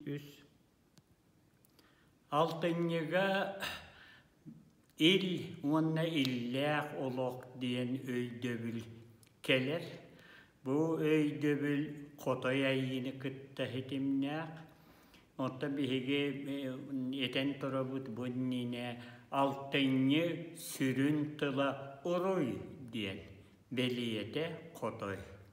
үс алтынньыга ил уонна иллээх олох диэн өйдөбүл кэлэр бу өйдөбүл хотой айыыны кытта ситимнээх онто биһиги этэн турабыт бу иннинэ алтынньы сүрүн тыла уруй диэн бэлиэтэ хотой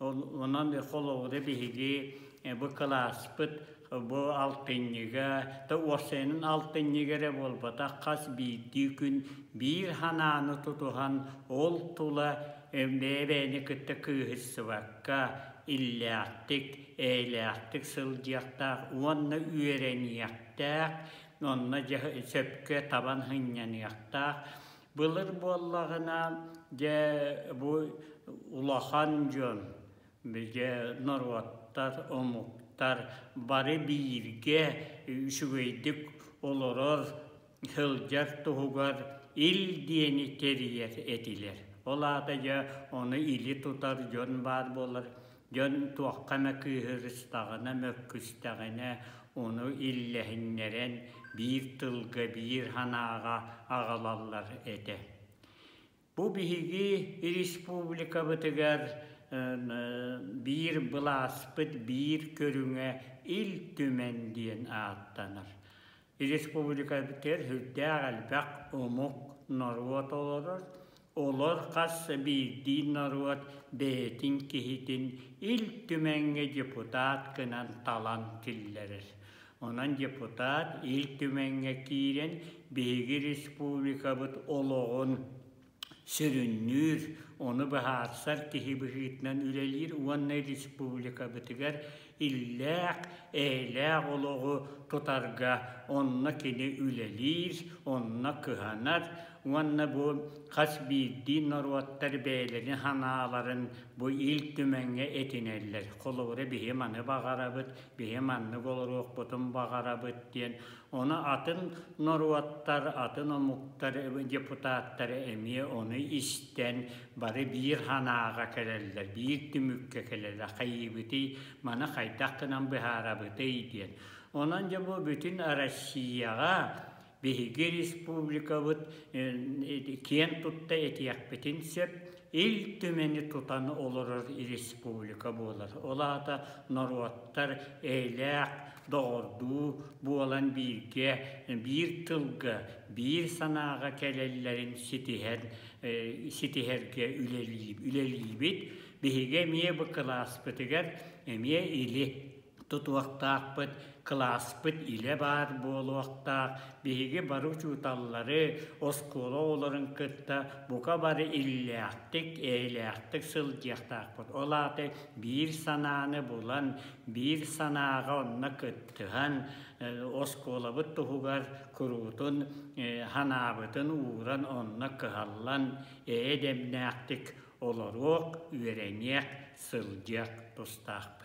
Онон холобура биһиги бу кылааспыт бу алтынньыга, да уопсайынан алтынньыга эрэ буолбатах, хас биирдии күн биир санааны тутуһан ол тула бэйэ-бэйэни кытта кыыһырсыбакка, иллээхтик, эйэлээхтик сылдьыахтаах уонна үөрэниэхтээх, онно сөпкө табан сынньаныахтаах. Былыр буоллаҕына, дьэ, бу улахан дьон, бигэ норуоттар, омуктар бары бииргэ үчүгэйдик олорор, сылдьар туһугар ил диэни тэрийэр этилэр. Ол аата дьэ, ону или тутар дьон баар буолар. Дьон туохха эмэ кыыһырыстаҕына, мөккүстэҕинэ, ону иллэһиннэрэн, биир тылга, биир санааҕа аҕалаллар этэ. Бу биһиги республикабытыгар биир былааспыт биир көрүҥэ Ил Түмэн диэн ааттанар. Республикабытыгар сүрдээх элбэх омук, норуот олорор. Олор хас биирдии норуот бэйэтин киһитин Ил Түмэҥҥэ депутат гынан талан киллэрэр. Онон депутат Ил Түмэҥҥэ киирэн биһиги республикабыт олоҕун, Сүрүннүүр, ону быһаарсар киһи быһыытынан үлэлиир уонна республикабытыгар иллээх, эйэлээх олоҕу тутарга онно кини үлэлиир, онно кыһанар уонна бу хас биирдии норуоттар бэйэлэрин санааларын бу Ил Түмэҥҥэ этинэллэр. Холобура, биһи маны баҕарабыт, биһи маннык олоруохпутун баҕарабыт диэн Ону атын норуоттар, атын омуктар депутаттара эмиэ ону истэн бары биир санааҕа кэлэллэр, биир түмүккэ кэлэллэр. Хайыыбытый, маны хайдах гынан быһаарабытый диэн. Онон дьэ бу бүтүн Россияҕа биһиги республикабыт киэн тутта этиэхпитин сөп. Ил Түмэни тутан олорор республика буолар. Ол аата норуоттар эйэлээх, доҕордуу буолан бииргэ, биир тылга, биир санааҕа кэлэллэрин ситиһэр, ситиһэргэ үлэлиибит. Биһиги эмиэ бу кылааспытыгар эмиэ или тутуохтаахпыт, кылааспыт илэ баар буолуохтаах, биһиги бары учууталлары, оскуола оҕолорун кытта бука бары иллээхтик, эйэлээхтик сылдьыахтаахпыт. Ол аата биир санааны булан, биир санааҕа онно кыттыһан, оскуолабыт туһугар куруутун, санаабытын ууран, онно кыһаллан, эйэ дэмнээхтик олоруох, үөрэниэх, сылдьыах тустаахпыт.